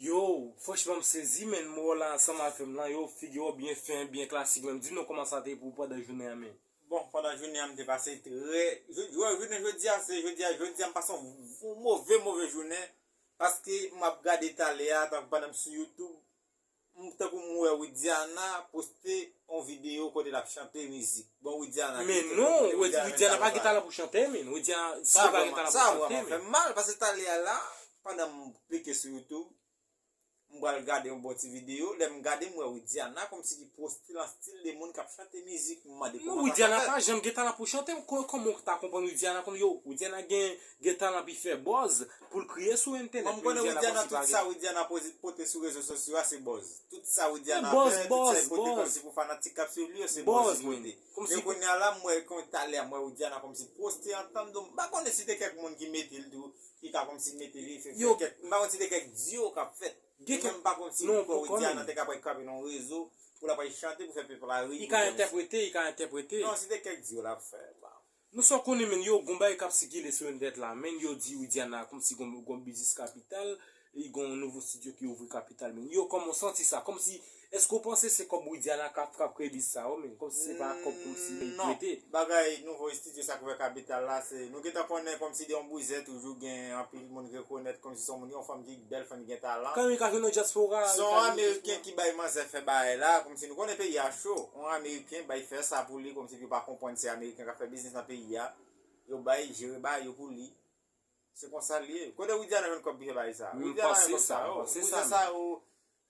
Yow franchman m sezi menn mwen wè w la ansanm avè m lan yow figi w byen fen byen klasik menn di nou kòman sa te pou w pandan jounen an menn. Bon pandan jounen an m te pase trè bon jounen jodi a se jodi a jodi a m pase yon move move jounen paske m ap gade talè a tankou pandan m sou youtube M tankou m wè Widiana poste on video kote lap chante mizik bon Widiana ki kote non Widiana pa gen talan pou chante min Widiana si li pa gen talan pou chante min sa vreman fèm mal pase talè a la pandan m klike sou youtube m pral gade yon bon ti video lèm gade m wè Widiana komsi ki poste lan stil de moun kap chante mizik m mande koman sa ka fèt. Non Widiana pa janm gen talan pou chante kòman w ta konprann Widiana konn yo Widiana gen Gen talan pi fè bòz poul kriye sou entenèt men Widiana pa di pa gen. Widiana pote sou rezo sosyo a se bòz. Tout sa Widiana fè, tout sa li pote kòmsi pou fanatik kap swiv li yo se bòz li pote. Men kounya la m wè kont talè a m wè Widiana kòmsi poste antann do m pa konnen si te kèk moun ki mete l tou ki ka kòmsi mete li fè kèk m pa konn si te kèk diyo kap fèt men m pa konn si m kwè Widiana te ka pral kanpe nan yon rezo pou lap pral chante pou fè pèp la ri pou l kòmsi. Li ka entèprete, li ka entèprete. Non si te kèk diyo lap fè m pa. Nou sa w konnen menn yo gon bagay kap sikile sou entènèt la menn yo di Widiana kòmsi gon gon biznis kapital li gon nouvo studio ki ouvri kapital menn yo kòman w santi sa kòmsi èske w panse se kòb Widiana kap kap kreye biznis sa yo menn kòmsi se pa kòb kòmsi li non prete. bagay nouvo istidyo sa k ouvè kapital la se nou gentan konnen kòmsi de yon bouzen toujou gen anpil moun rekonèt kòmsi se yon moun yon fanm ki bèl fanm ki gen talan. Kami ka jwe nan dyaspora a se yon ameriken ki bay manzè fè bagay la kòmsi nou konnen peyi a cho yon ameriken bay fè sa pou li kòmsi. Paske yo pa konprann se ameriken kap fè biznis nan peyi a. Yo bay jere ba yo pou li. Se konsal ye. Kote Widiana jwenn kob pou fè bagay sa? Widiana jwenn kob sa yo. Bouzen sa yo.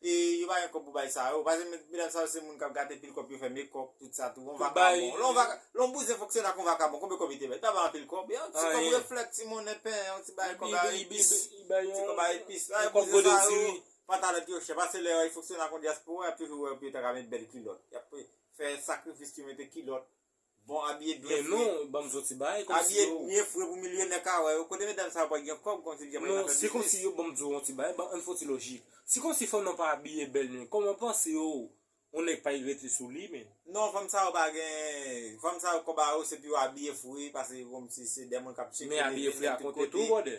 E yo pa gen kob pou bay sa yo. Paske medam sa yo se moun kap gate pil kob pou yo fè mekop tout sa tou. Yon vakabon. Lon bouzen fonksyonè ak yon vakabon. Konbe kob li te bay? Li pa bay anpil kob. Yon ti kob reflèt ti monnen pen. Yon ti bagay kob a epis. Ti kob a epis. Yon kob gode diri. Pantalon ki yo chè. Paske lè yon fonksyonè ak yon diaspora yap toujou wè yo pou yo ta ka met bèl kilot. fè sakrifis ti mete kilòt bon abiye byen fre non banm zon ti bagay kòmsi yo abiye byen fre pou milyonè ka wè yo kote medam sa yo pa gen kòb kòmsi yo pa fè kòmsi yo banm zon ti bagay banm fon ti lojik si kòmsi fanm nan pa abiye bèl men kòman ou panse yo yon nèg pa igrète sou li men non fanm sa yo pa gen fanm sa yo kòb a yo se pou yo abiye fre pase kòmsi se dè moun kap sikile men abiye fre a konte tou bròdè.